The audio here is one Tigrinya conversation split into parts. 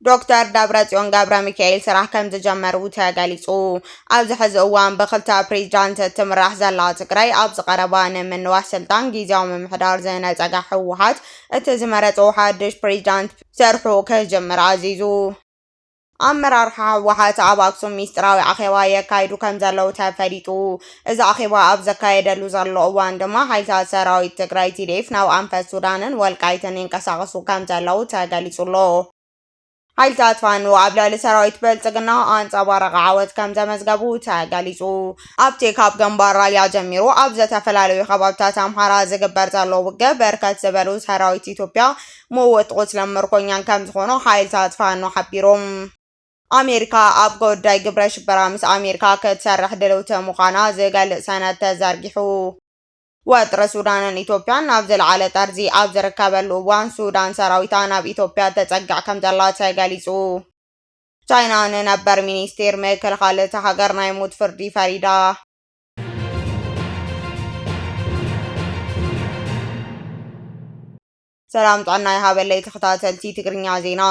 ዶክተር ደብረፅዮን ገብረ ሚካኤል ስራሕ ከም ዝጀመሩ ተገሊፁ። ኣብዚ ሕዚ እዋን ብክልተ ፕሬዚዳንት እትምራሕ ዘላ ትግራይ ኣብዚ ቀረባ ንምንዋሕ ስልጣን ግዜያዊ ምምሕዳር ዝነፀገ ህወሓት እቲ ዝመረፆ ሓድሽ ፕሬዚዳንት ሰርሑ ክጅምር ኣዚዙ። ኣመራርሓ ህወሓት ኣብ ኣክሱም ሚስጥራዊ ኣኼባ የካይዱ ከምዘለዉ ተፈሊጡ። እዚ ኣኼባ ኣብ ዘካየደሉ ዘሎ እዋን ድማ ሓይልታት ሰራዊት ትግራይ ቲዲኤፍ ናብ ኣንፈት ሱዳንን ወልቃይትን ይንቀሳቐሱ ከምዘለዉ ተገሊጹ'ሎ። ሓይልታት ፋኖ ኣብ ልዕሊ ሰራዊት ብልጽግና ኣንጸባራቒ ዓወት ከምዘመዝገቡ ተገሊጹ። ኣብቲ ካብ ግንባር ራያ ጀሚሩ ኣብ ዝተፈላለዩ ከባቢታት ኣምሓራ ዝግበር ዘሎ ውግእ ብርክት ዝበሉ ሰራዊት ኢትዮጵያ መወቲ ቁስልን ምርኮኛን ከምዝኾኑ ሓይልታት ፋኖ ሓቢሮም። ኣሜሪካ ኣብ ጉዳይ ግብረ ሽበራ ምስ ኣሜሪካ ክትሰርሕ ድልውቲ ምዃና ዝገልጽ ሰነድ ተዘርጊሑ። ወጥሪ ሱዳንን ኢትዮጵያን ናብ ዝለዓለ ጠርዚ ኣብ ዝርከበሉ እዋን ሱዳን ሰራዊታ ናብ ኢትዮጵያ ተጸግዕ ከምዘላ ተገሊጹ። ቻይና ንነበር ሚኒስቴር ምክልኻል እታ ሃገር ናይ ሞት ፍርዲ ፈሪዳ። ሰላም ጥዕና ይሃበለይ ተኸታተልቲ ትግርኛ ዜና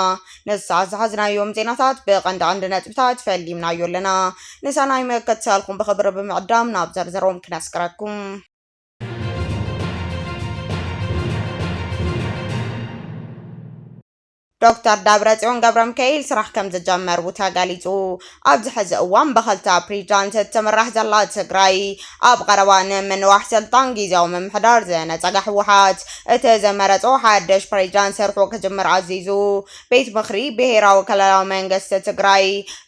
ነዚ ሰዓት ዝሓዝናዮም ዜናታት ብቐንዲ ቀንዲ ነጥብታት ፈሊምናዮ ኣለና ንሰናይ መከትሰልኩም ብኽብሪ ብምዕዳም ናብ ዘርዘሮም ክነስቅረኩም ዶክተር ደብረፅዮን ገብረምካኤል ስራሕ ከምዝጀመሩ ተገሊፁ። ኣብዚ ሕዚ እዋን ብክልተ ፕሬዚዳንት እትምራሕ ዘላ ትግራይ ኣብ ቐረባ ንምንዋሕ ስልጣን ጊዚያዊ ምምሕዳር ዝነፀገ ህወሓት እቲ ዝመረፆ ሓድሽ ፕሬዚዳንት ስርሑ ክጅምር ኣዚዙ። ቤት ምኽሪ ብሄራዊ ክልላዊ መንግስቲ ትግራይ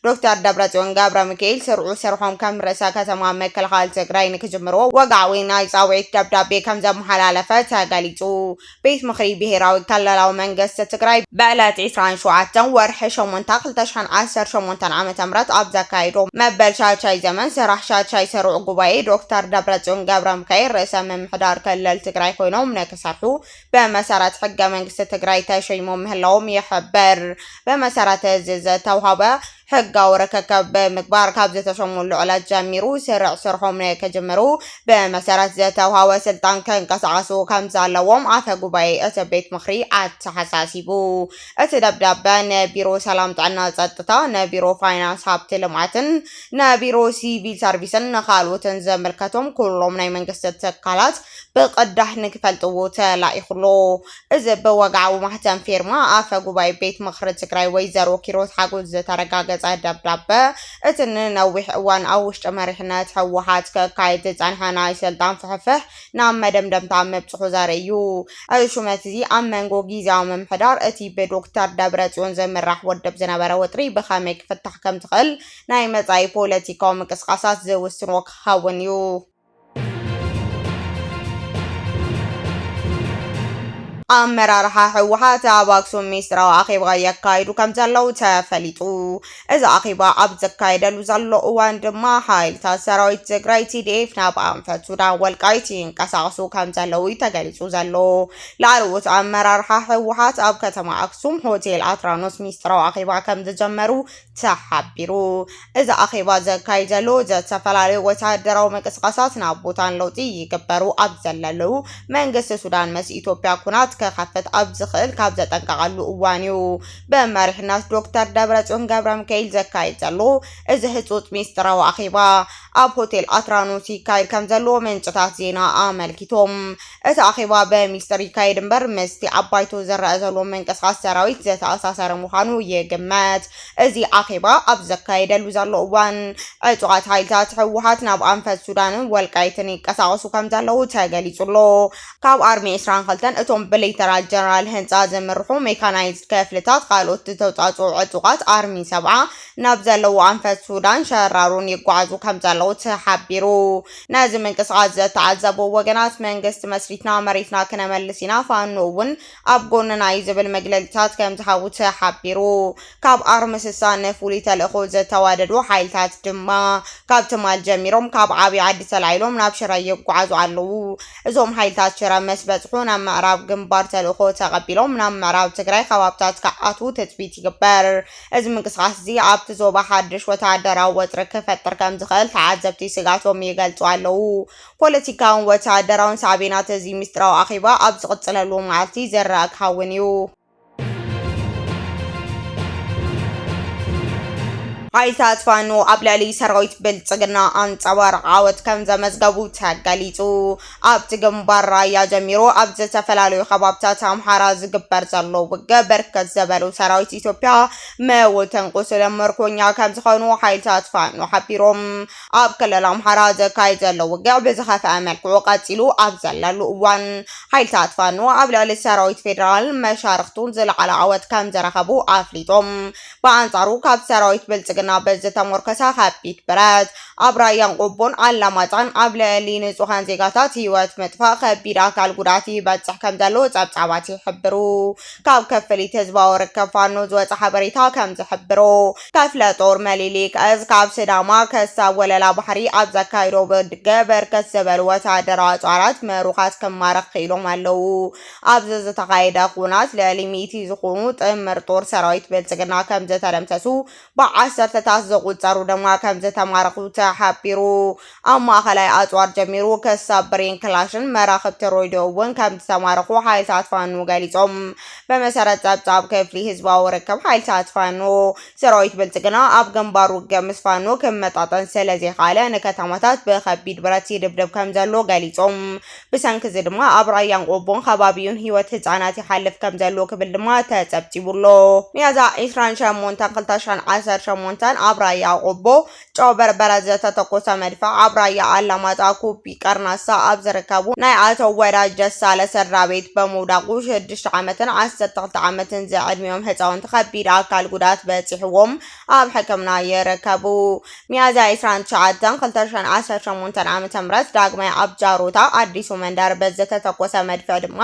ዶክተር ደብረፅዮን ገብረሚካኤል ስርዑ ስርሖም ከም ርእሰ ከተማ ምክልኻል ትግራይ ንክጅምሩ ወግዓዊ ናይ ፃውዒት ደብዳቤ ከምዘመሓላለፈ ተገሊፁ። ቤት ምኽሪ ብሄራዊ ክልላዊ መንገስቲ ትግራይ ብዕለት ዕስራን ሸውዓተን ወርሒ ሸሞንታ ክልተ ሽሕን ዓሰርተ ሸሞንተን ዓመተ ምህረት ኣብ ዘካየዶ መበል ሻድሻይ ዘመን ስራሕ ሻድሻይ ስሩዕ ጉባኤ ዶክተር ደብረፅዮን ገብረሚካኤል ርእሰ ምምሕዳር ክልል ትግራይ ኮይኖም ንክሰርሑ ብመሰረት ሕገ መንግስቲ ትግራይ ተሸይሞም ምህላዎም ይሕብር። ብመሰረት እዚ ዝተውሃበ ሕጋዊ ርክክብ ብምግባር ካብ ዝተሸሙሉ ዕለት ጀሚሩ ስርዕ ስርሖም ንክጅምሩ ብመሰረት ዝተውሃወ ስልጣን ክንቀሳቐሱ ከምዘለዎም ኣፈ ጉባኤ እቲ ቤት ምኽሪ ኣተሓሳሲቡ። እቲ ደብዳበ ንቢሮ ሰላም ጥዕና ጸጥታ፣ ንቢሮ ፋይናንስ ሃብቲ ልምዓትን፣ ንቢሮ ሲቪል ሰርቪስን ንካልኦትን ዝምልከቶም ኩሎም ናይ መንግስቲ ትካላት ብቅዳሕ ንክፈልጥዎ ተላኢኹ ኣሎ። እዚ ብወግዓዊ ማህተም ፊርማ ኣፈ ጉባኤ ቤት ምኽሪ ትግራይ ወይዘሮ ኪሮስ ሓጎስ ዝተረጋገፀ ደብዳበ እቲ ንነዊሕ እዋን ኣብ ውሽጢ መሪሕነት ህወሓት ክካየድ ዝፀንሐ ናይ ስልጣን ፍሕፍሕ ናብ መደምደምታ ምብፅሑ ዘርኢ እዩ። እዚ ሹመት እዚ ኣብ መንጎ ጊዜያዊ ምምሕዳር እቲ ብዶክተር ደብረፅዮን ዝምራሕ ውድብ ዝነበረ ወጥሪ ብኸመይ ክፍታሕ ከምዝኽእል ናይ መፃኢ ፖለቲካዊ ምንቅስቓሳት ዝውስኖ ክኸውን እዩ። ኣመራርሓ ህወሓት ኣብ ኣክሱም ሚስጥራዊ ኣኼባ የካይዱ ከም ዘለዉ ተፈሊጡ። እዚ ኣኼባ ኣብ ዝካየደሉ ዘሎ እዋን ድማ ሓይልታት ሰራዊት ትግራይ ቲዲኤፍ ናብ ኣንፈት ሱዳን ወልቃይት ይንቀሳቐሱ ከም ዘለዉ እዩ ተገሊጹ ዘሎ። ላዕለዎት ኣመራርሓ ህወሓት ኣብ ከተማ ኣክሱም ሆቴል ኣትራኖስ ሚስጥራዊ ኣኼባ ከም ዝጀመሩ ተሓቢሩ። እዚ ኣኼባ ዘካይድ ዘሎ ዝተፈላለዩ ወተሃደራዊ ምንቅስቓሳት ናብ ቡታን ለውጢ ይግበሩ ኣብ ዘለለዉ፣ መንግስቲ ሱዳን ምስ ኢትዮጵያ ኩናት ክኸፍት ኣብ ዝኽእል ካብ ዘጠንቀቐሉ እዋን እዩ። ብመሪሕነት ዶክተር ደብረጽዮን ገብረሚካኤል ዘካይድ ዘሎ እዚ ህጹጽ ሚስጥራዊ ኣኼባ፣ ኣብ ሆቴል ኣትራኖስ ይካየድ ከምዘሎ ምንጭታት ዜና ኣመልኪቶም። እቲ ኣኼባ ብሚስጥር ይካየድ እምበር ምስቲ ኣብ ባይቶ ዝረኣ ዘሎ ምንቅስቓስ ሰራዊት ዝተኣሳሰረ ምዃኑ ይግመት። እዚ ኣኼባ ኣብ ዝካየደሉ ዘሎ እዋን ዕጡቓት ሓይልታት ህወሓት ናብ ኣንፈት ሱዳንን ወልቃይትን ይንቀሳቐሱ ከምዘለዉ ተገሊጹ ኣሎ። ካብ ኣርሚ ዕስራን ክልተን እቶም ብሌተናል ጀነራል ህንጻ ዝምርሑ ሜካናይዝድ ክፍልታት ካልኦት ዝተውጻጽኡ ዕጡቓት ኣርሚ ሰብዓ ናብ ዘለዎ ኣንፈት ሱዳን ሸራሮን ይጓዓዙ ከምዘለዉ ተሓቢሩ። ነዚ ምንቅስቓስ ዘተዓዘቡ ወገናት መንግስቲ መስሪትና መሬትና ክነመልስ ኢና፣ ፋኖ እውን ኣብ ጎንና እዩ ዝብል መግለሊታት ከምዝሃውተ ሓቢሩ። ካብ ኣርሚ ስሳ ንፍሉይ ተልእኾ ዝተዋደዱ ሓይልታት ድማ ካብ ትማል ጀሚሮም ካብ ዓብይ ዓዲ ተላዒሎም ናብ ሽረ ይጓዓዙ ኣለዉ። እዞም ሓይልታት ሽረ ምስ በፅሑ ናብ ምዕራብ ግንባር ተልእኾ ተቐቢሎም ናብ ምዕራብ ትግራይ ከባብታት ክኣትዉ ትፅቢት ይግበር። እዚ ምንቅስቓስ'ዚ ኣብቲ ዞባ ሓድሽ ወተሃደራዊ ወጥሪ ክፈጥር ከምዝኽእል ተዓዘብቲ ስግኣቶም ይገልጹ ኣለዉ። ፖለቲካውን ወተሃደራውን ሳዕቤናት እዚ ምስጢራዊ ኣኼባ ኣብ ዝቕጽለሉ መዓልቲ ዝርኣ ክኸውን እዩ። ሓይልታት ፋኖ ኣብ ልዕሊ ሰራዊት ብልጽግና ኣንጸባራቒ ዓወት ከምዘመዝገቡ ተገሊጹ። ኣብቲ ግንባር ራያ ጀሚሩ ኣብ ዝተፈላለዩ ከባብታት ኣምሓራ ዝግበር ዘሎ ውግእ ብርክት ዝበሉ ሰራዊት ኢትዮጵያ መውትን ቁስልን ምርኮኛ ከምዝኾኑ ሓይልታት ፋኖ ሓቢሮም። ኣብ ክልል ኣምሓራ ዘካይድ ዘሎ ውግእ ብዝኸፍአ መልክዑ ቀፂሉ ኣብ ዘለሉ እዋን ሓይልታት ፋኖ ኣብ ልዕሊ ሰራዊት ፌዴራልን መሻርኽቱን ዝለዓለ ዓወት ከምዝረኸቡ ኣፍሊጦም። ብኣንጻሩ ካብ ሰራዊት ብልጽግና ብዝተሞርከሰ ከቢድ ብረት ኣብ ራያን ቆቦን ኣላማጣን ኣብ ልዕሊ ንጹሃን ዜጋታት ህይወት ምጥፋእ ከቢድ ኣካል ጉድኣት ይበጽሕ ከም ዘሎ ጸብጻባት ይሕብሩ። ካብ ክፍሊት ህዝባዊ ርከብ ፋኖ ዝወጸ ሓበሬታ ከም ዝሕብሮ ከፍለ ጦር መሊሊክ እዝ ካብ ስዳማ ከሳብ ወለላ ባሕሪ ኣብ ዘካይዶ ብድገ በርከት ዝበሉ ወተሃደራዊ ኣጽዋራት ምሩኻት ክማረኽ ክኢሎም ኣለዉ። ኣብዚ ዝተኻየደ ኹናት ልዕሊ ሚእቲ ዝኾኑ ጥምር ጦር ሰራዊት ብልፅግና ከምዝተደምሰሱ ብዓሰርተታት ዝቑፀሩ ድማ ከምዝተማረኹ ተሓቢሩ። ኣብ ማእኸላይ ኣፅዋር ጀሚሩ ክሳብ ብሬን ክላሽን መራኽብቲ ሮይድዮ እውን ከምዝተማረኹ ሓይልታት ፋኖ ገሊፆም። ብመሰረት ፀብፃብ ክፍሊ ህዝባዊ ርክብ ሓይልታት ፋኖ ሰራዊት ብልፅግና ኣብ ግንባር ውግእ ምስ ፋኖ ክመጣጠን ስለዘይኸኣለ ንከተማታት ብከቢድ ብረት ይድብድብ ከምዘሎ ገሊፆም። ብሰንኪ እዚ ድማ ኣብ ራያን ቆቦን ከባቢኡን ህይወት ህፃናት ይሓልፍ ከምዘሎ ክብል ድማ ተፀብፂቡ ኣሎ። ሚያዝያ ዕስራን ሸሞንተን ክልተ ሽሕን ዓሰርተ ሸሞንተን ኣብ ራያ ቆቦ ጨው በርበረ ዝተተኮሰ መድፍዕ ኣብ ራያ ኣላማጣ ኩቢ ቀርናሳ ኣብ ዝርከቡ ናይ ኣቶ ወዳጅ ደሳለ ስድራቤት በምውዳቁ ሽዱሽተ ዓመትን ዓሰርተ ክልተ ዓመትን ዝዕድሚኦም ህፃውንቲ ከቢድ ኣካል ጉድኣት በፂሕዎም ኣብ ሕክምና ይርከቡ። ሚያዝያ ዕስራን ትሽዓተን ክልተ ሽሕን ዓሰርተ ሸሞንተን ዓመተ ምህረት ዳግማይ ኣብ ጃሮታ ኣዲሱ መንደር በዝተተኮሰ መድፍዕ ድማ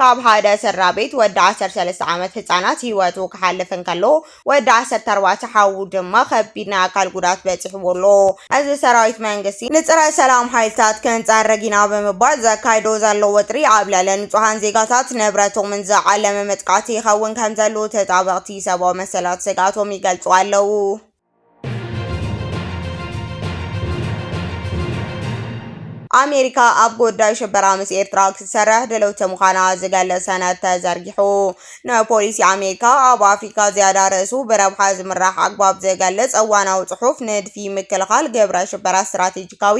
ካብ ሓደ ስድራቤት ወዲ ዓሰርተ ሰለስተ ዓመት ህጻናት ህይወቱ ክሓልፍ እንከሎ ወዲ ዓሰርተ ኣርባዕተ ሓዉ ድማ ከቢድ ናይ ኣካል ጉድኣት በጺሕዎ ኣሎ። እዚ ሰራዊት መንግስቲ ንጽረ ሰላም ሓይልታት ክንጸርግ ኢና ብምባል ዘካይዶ ዘሎ ወጥሪ ኣብ ልዕሊ ንጹሃን ዜጋታት ንብረቶምን ዝዓለመ መጥቃዕቲ ይኸውን ከምዘሎ ተጣበቕቲ ሰብኣዊ መሰላት ስግኣቶም ይገልጹ ኣለዉ። ኣሜሪካ ኣብ ጉዳይ ሽበራ ምስ ኤርትራ ክትሰርሕ ድልውቲ ምዃና ዝገልጽ ሰነድ ተዘርጊሑ። ንፖሊሲ ኣሜሪካ ኣብ ኣፍሪካ ዝያዳ ርእሱ ብረብሓ ዝምራሕ ኣግባብ ዝገልጽ እዋናዊ ጽሑፍ ንድፊ ምክልኻል ግብረ ሽበራ ስትራቴጂካዊ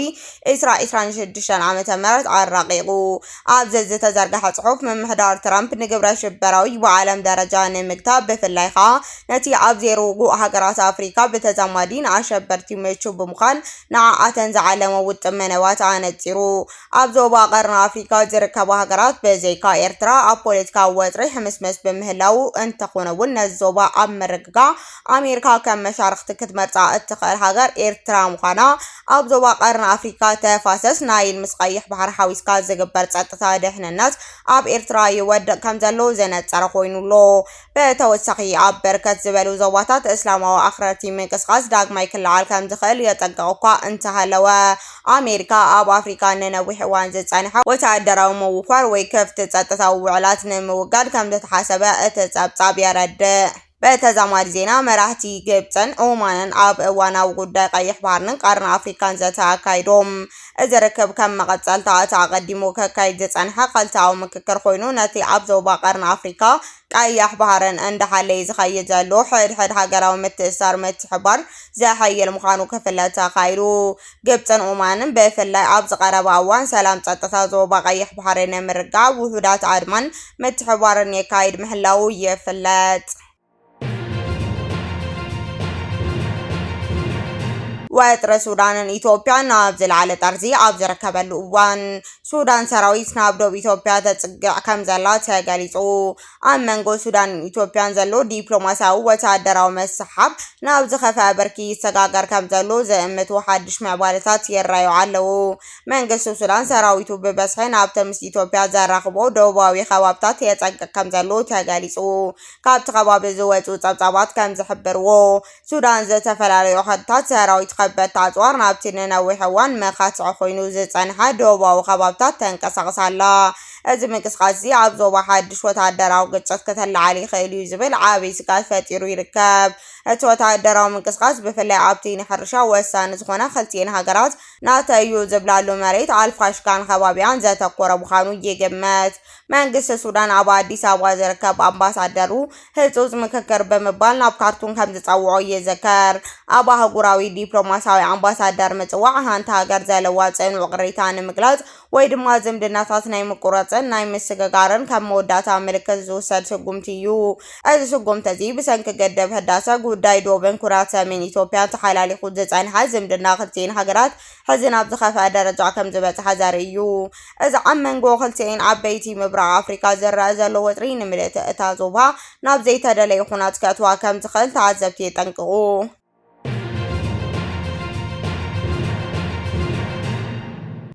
ኤስራ 26 ዓ ም ኣራቂቑ። ኣብዚ ዝተዘርግሐ ጽሑፍ፣ ምምሕዳር ትራምፕ ንግብረሽበራዊ ብዓለም ደረጃ ንምግታእ ብፍላይ ከኣ ነቲ ኣብ ዘይርጉእ ሃገራት ኣፍሪቃ ብተዛማዲ ንኣሸበርቲ ምቹእ ብምዃን ንዓኣተን ዝዓለሞ ውጥን መደባት ኣነጺሩ። ኣብ ዞባ ቀርኒ ኣፍሪቃ ዝርከባ ሃገራት ብዘይካ ኤርትራ ኣብ ፖለቲካዊ ወጥሪ ሕምስምስ ብምህላዉ እንተኾነ'ውን ነዚ ዞባ ኣብ ምርግጋእ ኣሜሪካ ከም መሻርኽቲ ክትመርጻ እትኽእል ሃገር ኤርትራ ምዃና ኣብ ዞባ ቀርኒ ኣፍሪካ ተፋሰስ ናይል ምስ ቀይሕ ባሕሪ ሓዊስካ ዝግበር ፀጥታ ድሕንነት ኣብ ኤርትራ ይወድቕ ከም ዘሎ ዘነፀረ ኮይኑ ኣሎ። ብተወሳኺ ኣብ በርከት ዝበሉ ዞባታት እስላማዊ ኣኽረርቲ ምንቅስቓስ ዳግማይ ክለዓል ከም ዝኽእል የጠንቅቕ እኳ እንተሃለወ ኣሜሪካ ኣብ ኣፍሪካ ንነዊሕ እዋን ዝፀንሐ ወተሃደራዊ ምውፋር ወይ ክፍት ጸጥታዊ ውዕላት ንምውጋድ ከም ዝተሓሰበ እቲ ጸብጻብ የረድእ። ብተዛማዲ ዜና መራህቲ ግብጽን ኦማንን ኣብ እዋናዊ ጉዳይ ቀይሕ ባህርንን ቀርኒ ኣፍሪካን ዘተ ኣካይዶም። እዚ ርክብ ከም መቐጸልታ እቲ ኣቐዲሙ ከካይድ ዝጸንሐ ኸልተኣዊ ምክክር ኾይኑ ነቲ ኣብ ዞባ ቀርኒ ኣፍሪካ ቀይሕ ባህርን እንዳሓለየ ዝኸይድ ዘሎ ሕድሕድ ሃገራዊ ምትእስሳር ምትሕብባር ዘሐይል ምዃኑ ክፍለጥ ተኻኢሉ። ግብፅን ኦማንን ብፍላይ ኣብዚ ቀረባ እዋን ሰላም ፀጥታ ዞባ ቀይሕ ባሕሪ ንምርግጋእ ውሑዳት ኣድማን ምትሕብባርን የካይድ ምህላዉ ይፍለጥ። ወጥሪ ሱዳንን ኢትዮጵያን ናብ ዝለዓለ ጠርዚ ኣብ ዝርከበሉ እዋን ሱዳን ሰራዊት ናብ ዶብ ኢትዮጵያ ተፅግዕ ከም ዘላ ተገሊፁ። ኣብ መንጎ ሱዳንን ኢትዮጵያን ዘሎ ዲፕሎማስያዊ ወተሃደራዊ መስሓብ ናብ ዝኸፍኣ ብርኪ ይሰጋገር ከምዘሎ ዝእምቱ ሓድሽ ምዕባለታት ይረኣዩ ኣለዉ። መንግስቲ ሱዳን ሰራዊቱ ብበዝሒ ናብቲ ምስ ኢትዮጵያ ዘራኽቦ ደቡባዊ ከባብታት የጸግዕ ከምዘሎ ተገሊጹ። ካብቲ ከባቢ ዝወጽኡ ጸብጻባት ከምዝሕብርዎ፣ ሱዳን ዝተፈላለዩ ከድታት ሰራዊት ከበድቲ ኣፅዋር ናብቲ ንነዊሕ እዋን መኻትዒ ኮይኑ ዝፀንሐ ደቡባዊ ከባብታት ተንቀሳቕስ ኣላ። እዚ ምንቅስቓስ እዚ ኣብ ዞባ ሓድሽ ወተሃደራዊ ግጭት ክተለዓል ይኽእል እዩ ዝብል ዓብዪ ስግኣት ፈጢሩ ይርከብ። እቲ ወተሃደራዊ ምንቅስቓስ ብፍላይ ኣብቲ ንሕርሻ ወሳኒ ዝኾነ ክልቲኤን ሃገራት ናተይ እዩ ዝብላሉ መሬት ኣልፋሽካን ከባቢኣን ዘተኮረ ምዃኑ ይግመት። መንግስቲ ሱዳን ኣብ ኣዲስ ኣበባ ዝርከብ ኣምባሳደሩ ህጹጽ ምክክር ብምባል ናብ ካርቱም ከም ዝጸውዖ ይዝከር። ኣብ ኣህጉራዊ ዲፕሎማስያዊ ኣምባሳደር ምጽዋዕ ሃንቲ ሃገር ዘለዋ ጽኑዕ ቅሬታ ንምግላጽ ወይ ድማ ዝምድናታት ናይ ምቁረጽን ናይ ምስግጋርን ከም መወዳእታ ምልክት ዝውሰድ ስጉምቲ እዩ። እዚ ስጉምቲ እዚ ብሰንኪ ግድብ ህዳሰ፣ ጉዳይ ዶብን ኩናት ሰሜን ኢትዮጵያን ተሓላሊኹ ዝጸንሐ ዝምድና ክልቲኤን ሃገራት ሕዚ ናብ ዝኸፍኣ ደረጃ ከምዝበጽሓ ዘርኢ እዩ። እዚ ኣብ መንጎ ክልቲኤን ዓበይቲ ምብራቕ ኣፍሪቃ ዝረኣ ዘሎ ወጥሪ ንምልእቲ እታ ዞባ ናብ ዘይተደለየ ኹናት ከእትዋ ከም ዝኽእል ተዓዘብቲ የጠንቅቑ።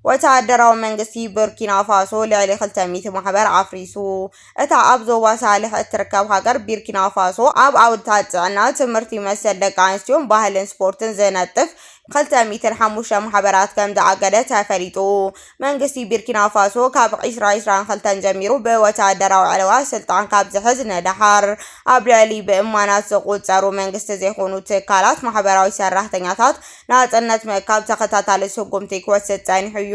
ወተሃደራዊ መንግስቲ ቡርኪናፋሶ ልዕሊ ክልተ ሚእቲ ማሕበር ኣፍሪሱ። እታ ኣብ ዞባ ሳልሕ እትርከብ ሃገር ቢርኪናፋሶ፣ ኣብ ዓውድታት ጥዕና፣ ትምህርቲ፣ መሰል ደቂ ኣንስትዮን ባህልን ስፖርትን ዝነጥፍ ክልተ ሚእትን ሓሙሽተ ማሕበራት ከምዝኣገደ ተፈሊጡ። መንግስቲ ቢርኪናፋሶ ካብ ዕስራ ዕስራን ክልተን ጀሚሩ ብወተሃደራዊ ዕልዋ ስልጣን ካብ ዝሕዝ ንደሓር፣ ኣብ ልዕሊ ብእማናት ዝቑጸሩ መንግስቲ ዘይኮኑ ትካላት ማሕበራዊ ሰራሕተኛታት ናጽነት ምእካብ ተኸታታሊ ስጉምቲ ክወስድ ጸኒሑ'ዩ።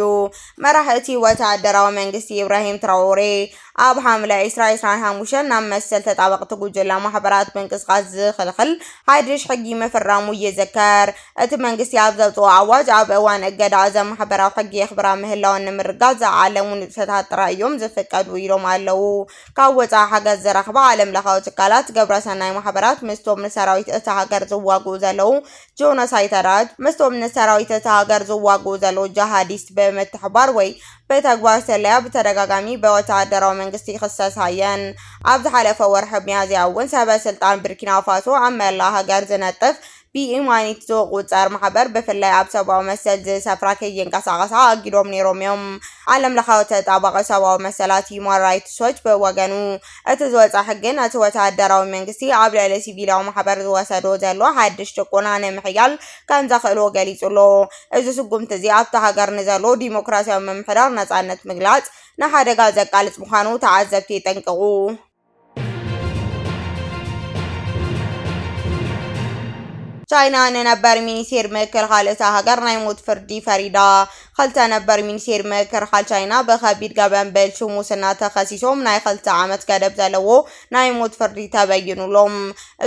መራሕ እቲ ወተሃደራዊ መንግስቲ ኢብራሂም ትራኦሬ፣ ኣብ ሓምለ ዕስራ ዕስራን ሓሙሽተን ናብ መሰል ተጣበቕቲ ጉጅላ ማሕበራት ምንቅስቓስ ዝኽልኽል ሓድሽ ሕጊ ምፍራሙ ይዝከር። እቲ መንግስቲ ኣብ ዘውጽኦ ኣዋጅ፣ ኣብ እዋን እገዳ እዘን ማሕበራት ሕጊ የኽብራ ምህላወን ንምርግጋጽ ዝዓለሙ ንጥፈታት ጥራይ እዮም ዝፍቀዱ ኢሎም ኣለዉ። ካብ ወጻኢ ሓገዝ ዝረኽባ ዓለምለኻዊ ትካላት፣ ግብረሰናይ ማሕበራት ምስቶም ንሰራዊት እታ ሃገር ዝዋግኡ ዘለዉ ጆኖሳይተራት ምስቶም ንሰራዊት እታ ሃገር ዝዋግኡ ዘለዉ ጃሃዲስት ብምትሕባር ወይ ብተግባር ስለያ ብተደጋጋሚ ብወተሃደራዊ መንግስቲ ይኽሰሳ እየን። ኣብ ዝሓለፈ ወርሒ ሚያዝያ እውን ሰበ ስልጣን ቡርኪናፋሶ ኣብ መላእ ሃገር ዝነጥፍ ብኢማኒት ዝቑጸር ማሕበር ብፍላይ ኣብ ሰብኣዊ መሰል ዝሰፍራ ከይንቀሳቐሳ ኣጊዶም ነይሮም እዮም። ዓለምለኻዊ ተጣባቒ ሰብኣዊ መሰላት ሂዩማን ራይትስ ዎች ብወገኑ እቲ ዝወጽኣ ሕጊ ነቲ ወተሃደራዊ መንግስቲ ኣብ ልዕሊ ሲቪላዊ ማሕበር ዝወሰዶ ዘሎ ሓድሽ ጭቆና ንምሕያል ከም ዘኽእሎ ገሊጹ ኣሎ። እዚ ስጉምቲ እዚ ኣብታ ሃገር ንዘሎ ዲሞክራስያዊ ምምሕዳር ነጻነት ምግላጽ ንሓደጋ ዘቃልጽ ምዃኑ ተዓዘብቲ የጠንቅቑ። ቻይና ንነበር ሚኒስቴር ምክልኻል እታ ሃገር ናይ ሞት ፍርዲ ፈሪዳ። ኽልተ ነበር ሚኒስቴር ምክርኻል ቻይና ብኸቢድ ገበን ብልሹ ሙስና ተኸሲሶም ናይ ኽልተ ዓመት ገደብ ዘለዎ ናይ ሞት ፍርዲ ተበይኑሎም።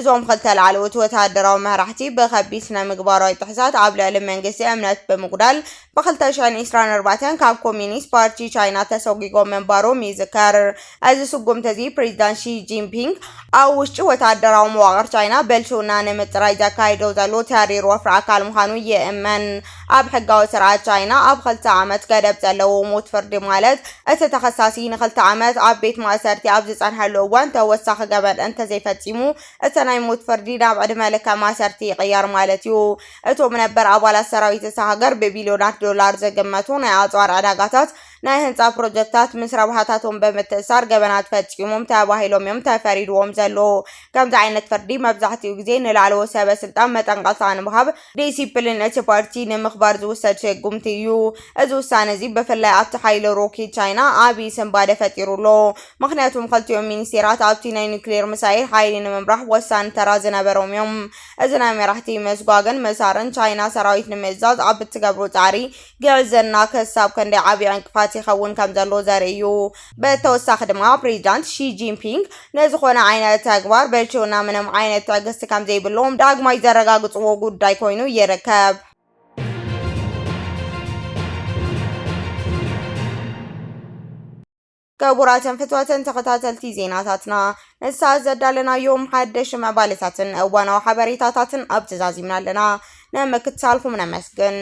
እዞም ኽልተ ላዕለዎት ወተሃደራዊ መራሕቲ ብኸቢድ ስነ ምግባራዊ ጥሕሳት ኣብ ልዕሊ መንግስቲ እምነት ብምጉዳል ብ ክልተ ሽሕን ዕስራን ኣርባዕተን ካብ ኮሚኒስት ፓርቲ ቻይና ተሰጒጎም ምንባሮም ይዝከር። እዚ ስጉምቲ እዚ ፕሬዚዳንት ሺ ጂንፒንግ ኣብ ውሽጢ ወታደራዊ መዋቕር ቻይና ብልሽውና ንምፅራይ ዘካይዶ ዘሎ ተሪር ወፍሪ ኣካል ምዃኑ ይእመን። ኣብ ሕጋዊ ስርዓት ቻይና ኣብ ኽልተ ዓመት ገደብ ዘለዎ ሞት ፍርዲ ማለት እቲ ተኸሳሲ ንኽልተ ዓመት ኣብ ቤት ማእሰርቲ ኣብ ዝፀንሐሉ እዋን ተወሳኺ ገበን እንተዘይፈፂሙ እቲ ናይ ሞት ፍርዲ ናብ ዕድመ ልከ ማእሰርቲ ይቕየር ማለት እዩ። እቶም ነበር ኣባላት ሰራዊት እታ ሃገር ብቢልዮናት ዶላር ዝግመቱ ናይ ኣፅዋር ዕዳጋታት ናይ ህንፃ ፕሮጀክታት ምስ ረብሓታቶም ብምትእሳር ገበናት ፈፂሞም ተባሂሎም እዮም ተፈሪድዎም ዘለዉ። ከምዚ ዓይነት ፍርዲ መብዛሕቲኡ ግዜ ንላዕለዎት ሰበ ስልጣን መጠንቐቕታ ንምሃብ ዲሲፕሊን እቲ ፓርቲ ንምኽባር ዝውሰድ ስጉምቲ እዩ። እዚ ውሳነ እዚ ብፍላይ ኣብቲ ሓይሊ ሮኬት ቻይና ዓብዪ ስንባደ ፈጢሩ ኣሎ። ምኽንያቱም ኽልቲኦም ሚኒስቴራት ኣብቲ ናይ ኒኩሌር ሚሳይል ሓይሊ ንምምራሕ ወሳኒ ተራ ዝነበሮም እዮም። እዚ ናይ መራሕቲ ምስጓግን ምእሳርን ቻይና ሰራዊት ንምእዛዝ ኣብ እትገብሮ ፃዕሪ ግዕዝይና ክሳብ ክንደይ ዓብዪ ዕንቅፋት ይኸውን ከም ዘሎ ዘርኢ እዩ። ብተወሳኺ ድማ ፕሬዚዳንት ሺ ጂንፒንግ ንዝኾነ ዓይነት ተግባር ብችውና ምንም ዓይነት ትዕግስቲ ከም ዘይብሎም ዳግማይ ዘረጋግፅዎ ጉዳይ ኮይኑ ይርከብ። ክቡራትን ፍትወትን ተኸታተልቲ ዜናታትና ንሳት ዘዳለናዮም ሓደሽ መባልታትን እዋናዊ ሓበሬታታትን ኣብ ተዛዚምና ኣለና ንምክትታልኩም ነመስግን።